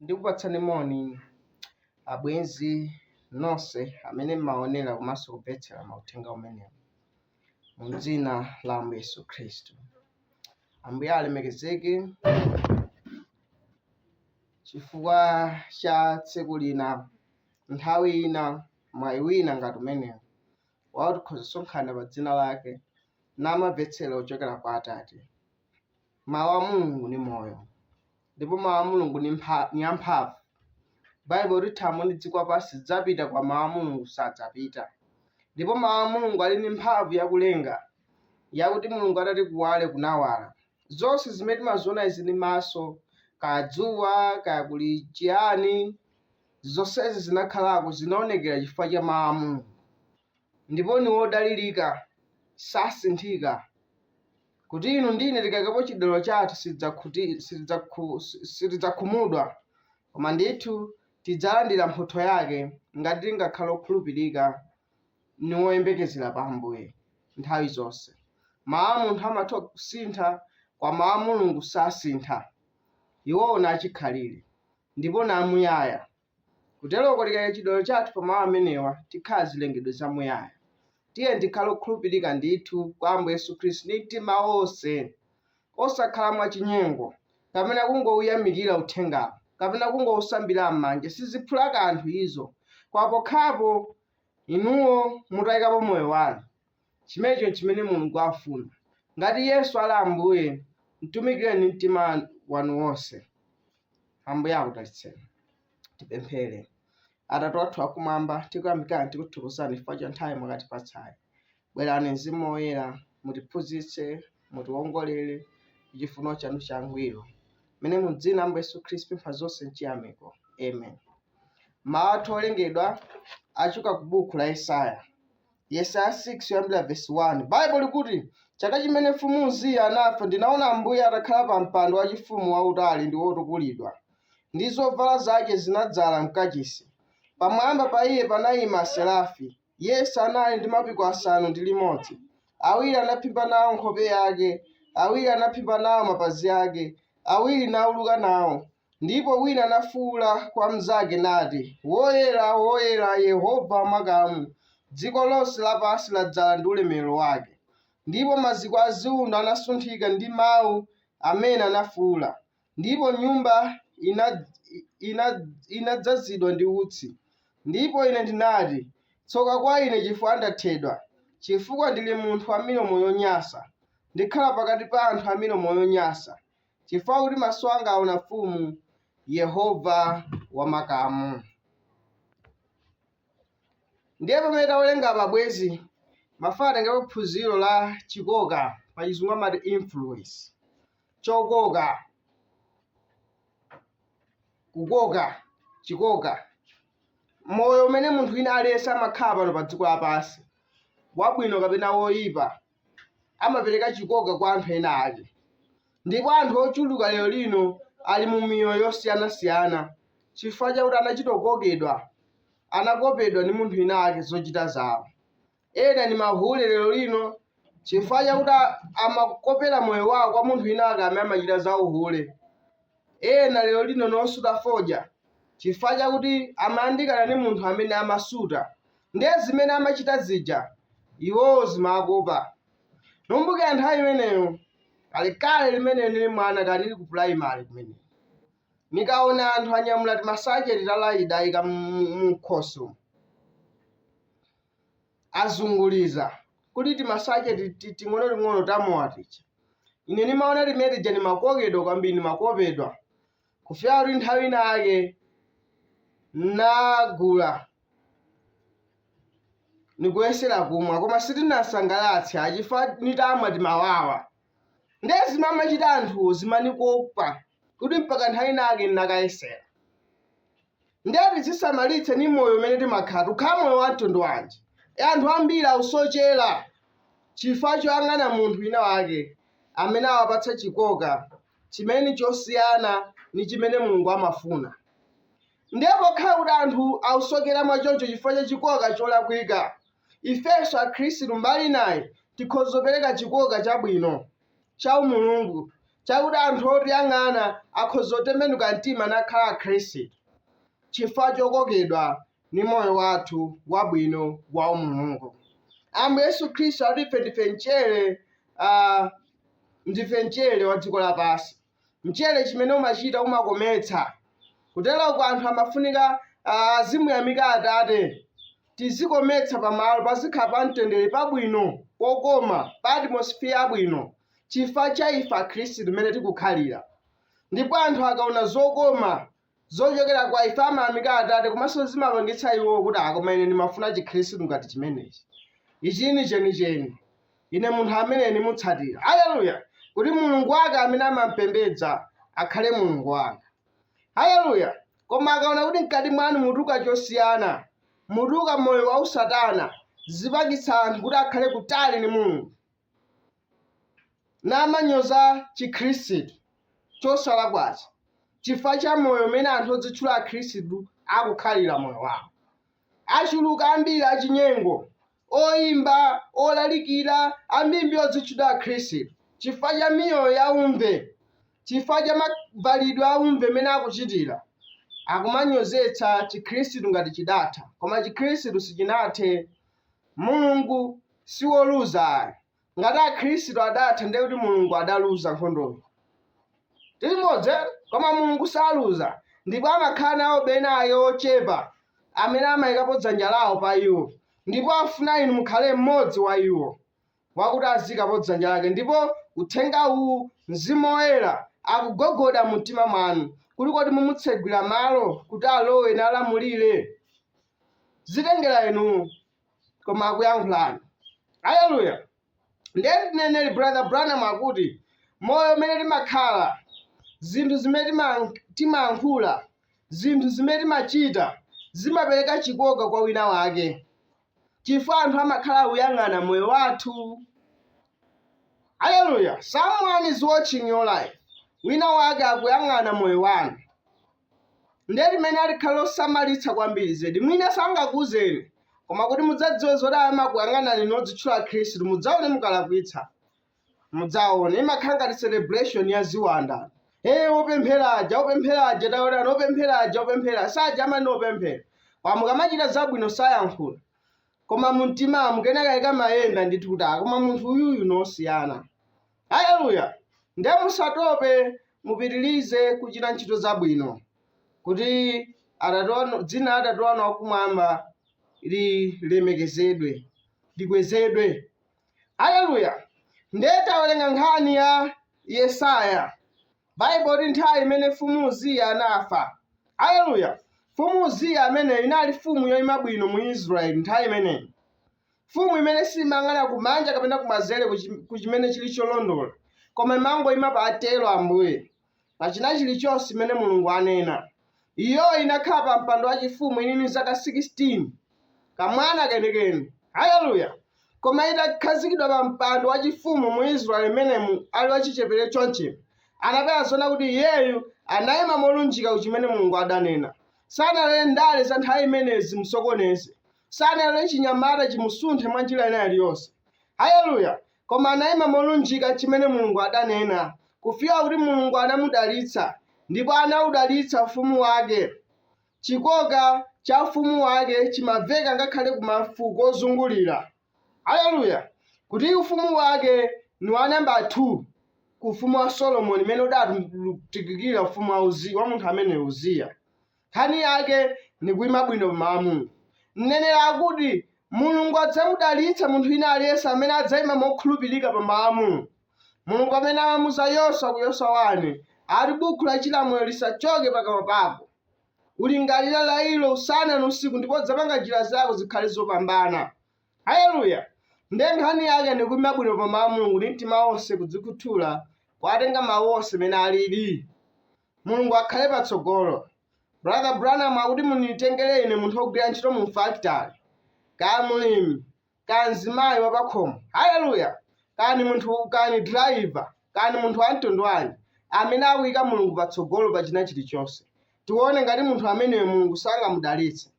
ndikupatsani moni abwenzi nonse amene mmaonera komanso kumvetsera mauthenga amenewa mu dzina la ambuye yesu khristu ambuye alemekezeke chifukwa cha tsiku lina, nthawi ina, mwayi wina ngati umenewu, wakuti tikhoza kusonkhana pa dzina lake namavetsera kuchokera kwa Atate. Mawu a Mulungu ni moyo, ndipo mawu a Mulungu ni amphamvu. Baibulo likuti thambo ndi dziko lapansi zidzapita, koma mawu a Mulungu sadzapita. Ndipo mawu a Mulungu ali ndi mphamvu yakulenga, yakuti Mulungu atati kuwale kunawala, zonse zimene timaziona izi ndi maso, kaya dzuwa, kaya kuli chiyani, zonsezi zinakhalako, zinaonekera chifukwa cha Mawu a Mulungu. Ndipo ni wodalirika, sasinthika, kuti inu ndi ine tikaikapo chidaliro chathu si- sitidzakhumudwa, koma ndithu tidzalandira mphotho yake ngati tingakhale okhulupirika ni woyembekezera pa Ambuye nthawi zonse. Mawu a munthu amatha kusintha, koma mawu a Mulungu sasintha. Iwowo ni achikhalire, ndipo ni amuyaya. Kuteroko tikaika chidaliro chathu pa mawu amenewa, tikhala zilengedwe zamuyaya. Tiyeni tikhale okhulupirika ndithu kwa Ambuye Yesu Khristu ndi mtima wonse. osakhala mwachinyengo, kapena kungouyamikira uthengawo, kapena kungousambira mmanja, siziphula kanthu izo, koma pokhapo inuwo mutaikapo moyo wanu. Chimenecho nchimene Mulungu afuna. Ngati Yesu ali Ambuye, mtumikireni ndi mtima wanu wonse. Ambuye akudalitseni. Tipemphere. Atate wathu wakumwamba, tikuyamikani, tikuthokozani chifukwa cha nthawi mwatipatsayi. Bwerani Mzimu Woyera, mutiphunzitse, mutiwongolere, mu chifuniro chanu changwiro. Mmene mu dzina la Ambuye Yesu Khristu tapempha zonse mchiyamiko. Amen. Mawu athu olingalira achoka ku buku la Yesaya. Yesaya 6 yoyambira vesi 1. Baibulo likuti, Chaka chimene mfumu Uziya anafa ndinaona Ambuye atakhala pa mpando wachifumu wautali ndi wotukulidwa, ndi zovala zake zinadzala mkachisi. Pamwamba pa iye panayima aserafi. Yense anali ndi mapiko asanu ndi limodzi, awiri anaphimba nao nkhope yake, awiri anaphimba nao mapazi ake, awiri nauluka nao. Ndipo wina anafuula kwa mnzake, nati, Woyera, woyera, Yehova wa makamu, dziko lonse lapansi ladzala ndi ulemerero wake. Ndipo maziko a ziundo anasunthika ndi mau amene anafuula. Ndipo nyumba inadzazidwa ndi utsi. Ndipo ine ndinati, Tsoka kwa ine chifukwa ndathedwa, chifukwa ndiri munthu wa milomo yonyansa, ndikhala pakati pa anthu a milomo yonyansa, chifukwa kuti maso anga aona Mfumu, Yehova wa makamu. Ndiye pamene tawerenga apa bwezi mafuna titengepo phunziro la chikoka pa chizungu amati influence. chokoka kukoka chikoka moyo umene munthu wina aliyense amakhala pano pa dziko lapansi wabwino kapena woyipa amapereka chikoka kwa anthu ena ake ndipo anthu ochuluka lero lino ali mu miyoyo yosiyanasiyana chifukwa chakuti anachitokopedwa anakopedwa ndi munthu wina ake zochita zawo Ena ni mahule lelo lino chifukwa chakuti a- amakopela moyo wawo kwa munthu wina wake amene amachita za uhule. Ena lelo lino ni osuta fodya chifukwa chakuti amayandikana ni munthu amene amasuta, ndiye zimene amachita zija iwowo zimawakopa. Nikumbukila nthawi imeneyo kalekale mmene nili mwana kaya nili ku pulayimale kumene, nikaona anthu anyamula timasacheti ta laida aika mu- mu- mumkhosi umu, azunguliza, kuti timasache ti, ti, ting'onoting'ono ta mowa tija. Ine ndimaona timene tija ndimakokedwa kwambiri, ndimakopedwa. Kufika kuti nthawi ina yake nagula nikuyesera kumwa koma sitinasangalatse chifa nitamwa timawawa ndiye zimene amachita anthuwo zimanikopa kuti mpaka nthawi ina yake ndinakayesera ndiye tizisamalitse ni moyo umene timakhala tukhala moyo wa mtundu wanji e anthu ambiri ausochera chifukwa choyang'ana munthu wina wake amene awapatsa chikoka chimene ni chosiyana ni chimene mulungu amafuna ndiye pokhala kuti anthu ausokera mwachoncho chifukwa cha chikoka cholakwika ifenso akhristu mbali inayi tikhoza kupereka chikoka chabwino chaumulungu chakuti anthu otiyang'ana akhoza kutembenuka mtima nakhala Akhristu chifukwa chokokedwa ndi moyo wathu wabwino waumulungu. Ambuye Yesu Khristu akuti ife ndife mchere, a, ndife mchere wa dziko lapansi. Mchere chimene umachita umakometsa. Kuteroko anthu amafunika ah, azimuyamika Atate. Tizikometsa pamalo pazikhala pamtendere pabwino pokoma pa atmosphere yabwino chifukwa cha ife Akhristu mmene tikukhalira. Ndipo anthu akaona zokoma zochokera kwa ife amayamika Atate komanso zimapangitsa iwo kuti ah, koma ine ndimafuna chikhristu ngati chimenechi. Ichi n'chenicheni. Ine munthu amene ndimutsatira. Haleluya! Kuti Mulungu wake amene amampembedza akhale Mulungu wanga. Haleluya! Koma akaona kuti mkati mwanu mutuluka chosiyana, mutuluka moyo wa usatana, zipangitsa anthu kuti akhale kutali ndi Mulungu. namanyoza Chikhristu chosalakwacho chifukwa cha moyo umene anthu odzitchula Akhristu akukhalira moyo wawo. Achuluka ambiri achinyengo, oimba, olalikira, ambimbi odzitchula Akhristu chifukwa cha miyoyo ya umve, chifukwa cha mavalidwe a umve mmene akuchitira, akumanyozetsa Chikhristu ngati chidatha, koma Chikhristu sichinathe. Mulungu si woluza ayi. Ngati Akhristu adatha ndiye kuti Mulungu adaluza nkhondoyo. Tili limodzi eti? Koma Mulungu saluza ndipo amakhala nawo bena ake ochepa amene amaikapo dzanja lawo pa iwo ndipo afuna inu mukhale mmodzi wa iwo. wakuti aziyikapo dzanja lake, ndipo Uthenga uwu, Mzimu Woyera, akugogoda mu mtima mwanu, kuti kodi mumutsegwira malo kuti alowe nalamulira? Zitengera inu, koma akuyankhulani. Aleluya! Ndiye mneneri Brother Branham akuti, moyo umene timakhala, zinthu zimene tima- timayankhula, zinthu zimene timachita zimapereka chikoka kwa wina wake. chifukwa anthu amakhala akuyang'ana moyo wathu. Haleluya! Someone is watching your life. Wina wake akuyang'ana moyo wanu. Ndiye limeneli likhale losamalitsa kwambiri zedi. Mwina sangakuuzeni, koma kuti mudzadziwe zoti amakuyang'anani inu odzitchula Akhristu, mudzaone mukalakwitsa. mudzaone imakhala ngati celebration ya ziwanda ee opemphera aja opemphera aja taonani opemphera aja opemphera aja amayi opemphera koma mukamachita zabwino sayankhula koma mumtima mukenakake kamayenda ndithu kuti "Ah, koma munthu uyuyu ngosiyana haleluya ndiye musatope mupitirize kuchita ntchito zabwino kuti atate wanu dzina la atate wanu wakumwamba lilemekezedwe likwezedwe aleluya ndiye tawerenga nkhani ya yesaya baibulo ikuti nthawi imene mfumu uziya anafa aleluya mfumu uziya ameneyu inali mfumu yoima bwino mu israeli nthawi imeneyo mfumu imene simayang'ana kumanja kapena kumanzere kuchi- kuchimene chili cholondola koma imangoima pa atero ambuye pa chinachilichonse chimene Mulungu anena. Iyo inakhala pa mpando wachifumu ili ndi zaka 16, kamwana kenikeni, haleluya, koma itakhazikidwa pa mpando wachifumu mu Israeli imenemu ali wachichepere chonchi, anapereka zona kuti iyeyo anayima molunjika ku chimene Mulungu adanena. Sanalole ndale za nthawi imeneyo zimusokoneze, sanalole chinyamata chimusunthe mwa njira ina iliyonse. Haleluya! koma anaima molunjika n'chimene Mulungu adanena, kufika kuti Mulungu anamudalitsa, ndipo anaudalitsa ufumu wake. Chikoka cha ufumu wake chimaveka ngakhale ku mafuko ozungulira. Haleluya! Kuti ufumu wake ni wa namba 2 ku ufumu wa Solomoni umene udatukukira ufumu wa Uziya, wa munthu ameneyo Uziya. Nkhani yake ni kuima bwino pa mawu a Mulungu. Mneneri akuti, Mulungu adzamudalitsa munthu wina aliyense amene adzaima mokhulupirika pa mawu a Mulungu. Mulungu pamene amamuza Yoswa ku Yoswa 1, ati buku la chilamulo lisachoke pakamwa pako. Ulingalire ilo usana ni usiku ndipo udzapanga njira zako zikhale zopambana. Haleluya! Ndiye nkhani yake ni kuima bwino pa mawu a Mulungu ndi mtima wonse kudzikhuthula kuwatenga mau onse mmene alili. Mulungu akhale patsogolo. Brother Branham akuti munitengere ine munthu wogwira ntchito mu factory, kaya mulimi, kaya mzimayi wa pakhomo, haleluya, kaya ni munthu, kaya ni driver, kaya ni munthu wa mtundu wanji, amene akuyika Mulungu patsogolo pa china chilichonse. Tione ngati munthu ameneyo Mulungu sangamudalitse.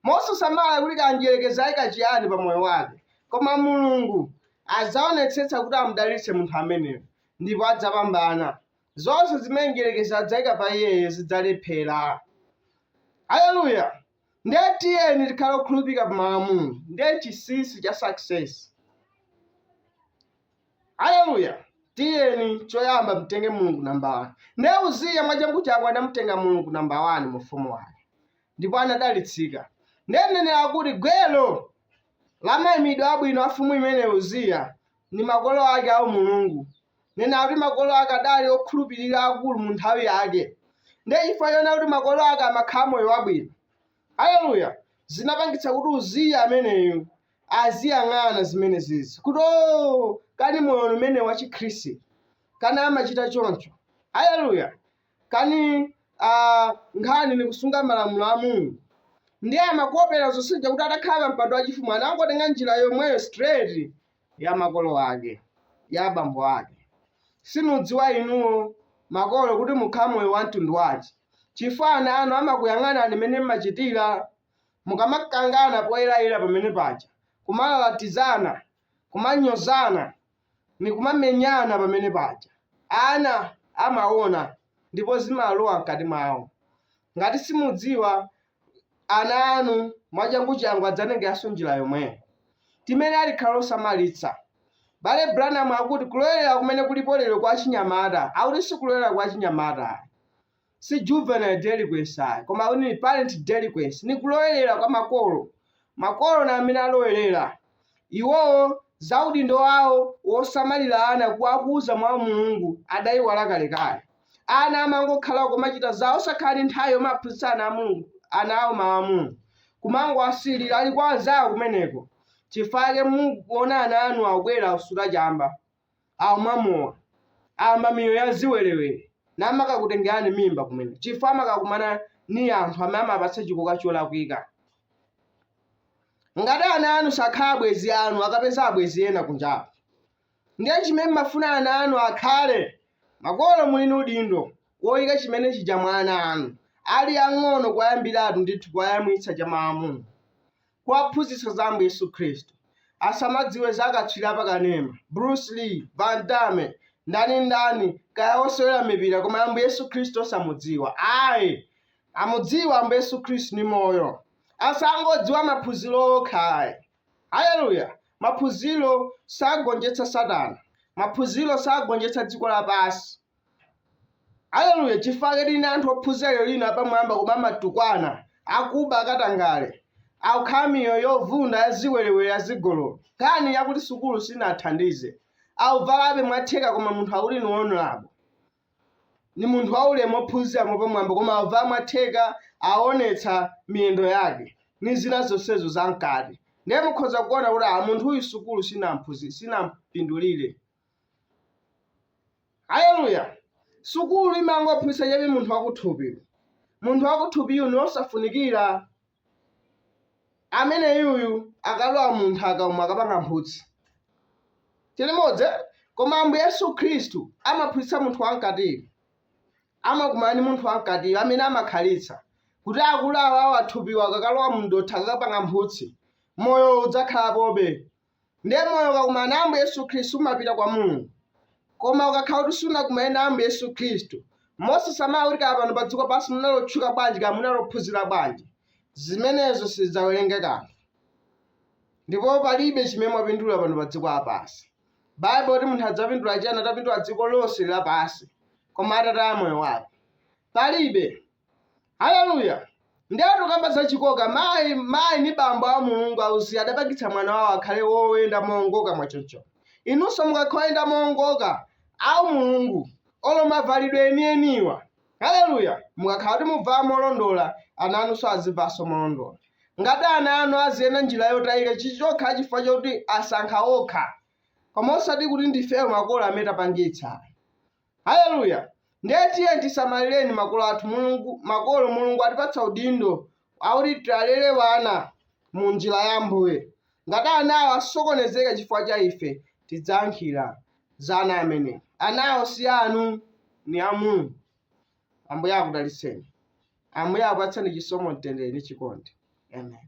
Mosasamala kuti kaya mdierekezi ayika chiyani pa moyo wake, koma Mulungu adzaonetsetsa kuti amudalitse munthu ameneyo ndipo adzapambana. Zonse zimene mdierekezi adzaika pa iyeyo zidzalephera. Haleluya! Ndiye tiyeni tikhale okhulupirika pa mawu a Mulungu, ndiye chinsinsi cha success. Haleluya! Tiyeni choyamba timtenge Mulungu namba 1. Ndiye Uziya mwachanguchangu anamutenga Mulungu namba 1 mu ufumu wake, ndipo anadalitsika. Ndiye mneneri akuti gwero la maimidwe abwino a mfumu imeneyo Uziya ndi makolo ake aumulungu, nena kuti makolo ake adali okhulupirira akulu mu nthawi yake ndiye chifukwa chonena kuti makolo ake amakhala moyo wabwino haleluya zinapangitsa kuti uziya ameneyu aziyang'ana zimene zija kuti o kani moyo umene wa chikhristu kani amachitira choncho haleluya kani ah, nkhani ni kusunga malamulo a mulungu ndiye amakopera zonse zija kuti atakhala pa mpando wachifumu anangotenga njira yomweyo straight ya makolo ake, ya abambo ake. Simudziwa inuyo, makolo, kuti mukhala moyo wa mtundu wanji, chifukwa ana anu amakuyang'anani m'mene m'machitira. Mukamakangana poyerayera pamene paja, kumalalatizana, kumanyozana, ndi kumamenyana pamene paja, ana amaona ndipo zimalowa m'kati mwawo. Ngati simudziwa, ana anu mwachanguchangu adzatengeranso njira yomweyo. Timayenera tikhale osamalitsa. M'bale Branham akuti kulowerera kumene kulipo lero kwa achinyamata, akuti si kulowerera kwa achinyamata ayi. Si juvenile delinquency ayi, koma akuti ni parent delinquency, ni kulowerera kwa makolo. Makolo ndi amene alowelela. Iwowo za udindo wawo wosamalila ana kuwakuza mwa umulungu adaiwala kalekale. Amangokhala komacita zawo osakhala ndi nthawi yomaphunzitsa ana awo mawu a Mulungu. Kumangowasiilila ali kwa anzawo kumeneko. Cifukwa cake muona ana anu akubwela osuta camba. akumwa mowa, ayamba miyoyo ya ziwelewele, namakakutengelani mimba kumeneko chifukwa amakakumana ni anthu amene amapatsa chikoka cholakwika. Ngati ana anu sakhala abwenzi anu, akapeza abwenzi ena kunjako. Ndiye chimene mmafuna ana anu akhale, makolo muli ni udindo woyika chimene chija mwa ana anu, ali ang'ono kuwayambilatu ndithu kuwayamwitsa cha Mawu a Mulungu. kuwaphunzitsa za Ambuye Yesu Khristu, asamadziwe za akatswiri apakanema, Bruce Lee, Van Damme, ndani ndani, kaya osewera mipira koma Ambuye Yesu Khristu osamudziwa. Ayi, amudziwe Ambuye Yesu Khristu ni moyo. Asangodziwa maphunziro okha ayi. Haleluya! Maphunziro sagonjetsa Satana. Maphunziro sagonjetsa dziko lapansi. Aleluya, chifukwa ake tili ndi anthu ophunzira lero lino apamwamba koma amatukwana, akuba, akatangale, akukhala miyoyo yovunda ya ziwerewere, ya zigololo. Nkhani yakuti sukulu sinathandize. Akuvalabe mwatheka koma munthu akuti ni honorable. Ni munthu waulemu ophunzira mwapamwamba koma akuvala mwatheka awonetsa miyendo yake ni zina zonsezo zamkati. Ndiye mukhoza kuona kuti ah munthuyu sukulu sinampindulire. Aleluya! Sukulu imangophunzitsa chabe munthu wakuthupi. Munthu wakuthupiyu ni wosafunikira. Ameneyuyu akalowa mu nthaka umo akapanga mphutsi. Tili limodzi? Koma Ambuye Yesu Khristu amaphunzitsa munthu wamkatiyo. Amakumana ndi munthu wamkatiyo amene amakhalitsa, kuti akulu awa thupiwa akakalowa mu dothi akakapanga mphutsi, moyowo udzakhalapobe. Ndiye moyo ukakumana na Ambuye Yesu Khristu umapita kwa Mulungu. Koma ukakhala kuti sunakumane na Ambuye Yesu Khristu, mosasamala kuti kaya pano pa dziko pansi munali otchuka bwanji kaya munali ophunzira bwanji, zimenezo sizidzawerengedwa kanthu. Ndipo palibe chimene mwapindula pano pa dziko lapansi. Baibulo likuti munthu adzapindula chiyani atapindula dziko lonse lapansi, koma atataya moyo wake? Palibe. Haleluya! Ndiye tikukamba za chikoka, mai, mai ni bambo a Mulungu auziya adapangitsa mwana wao akhale woyenda moongoka mwachoncho. Inunso mukakhala oyenda moongoka au Mulungu olo mavalidwe enieniwa, haleluya, mukakhala kuti mubvala molondola, ana anunso azibvalanso molondola. Ngati ana anu aziyenda njira yotayika chizikhala chifukwa chokuti asankha okha, koma osati kuti ndifeyo makolo amene tapangitsa. Haleluya! Ndiye tiyeni tisamalireni makolo athu Mulungu, makolo Mulungu atipatsa udindo wakuti tialere ana mu njira ya Ambuye. Ngati anawo asokonezeka chifukwa cha ife, tidzayankhira za ana amenewa. Anawo si anu, ni a Mulungu. Ambuye akudalitseni. Ambuye akupatseni chisomo, mtendere ndi chikondi. Amen.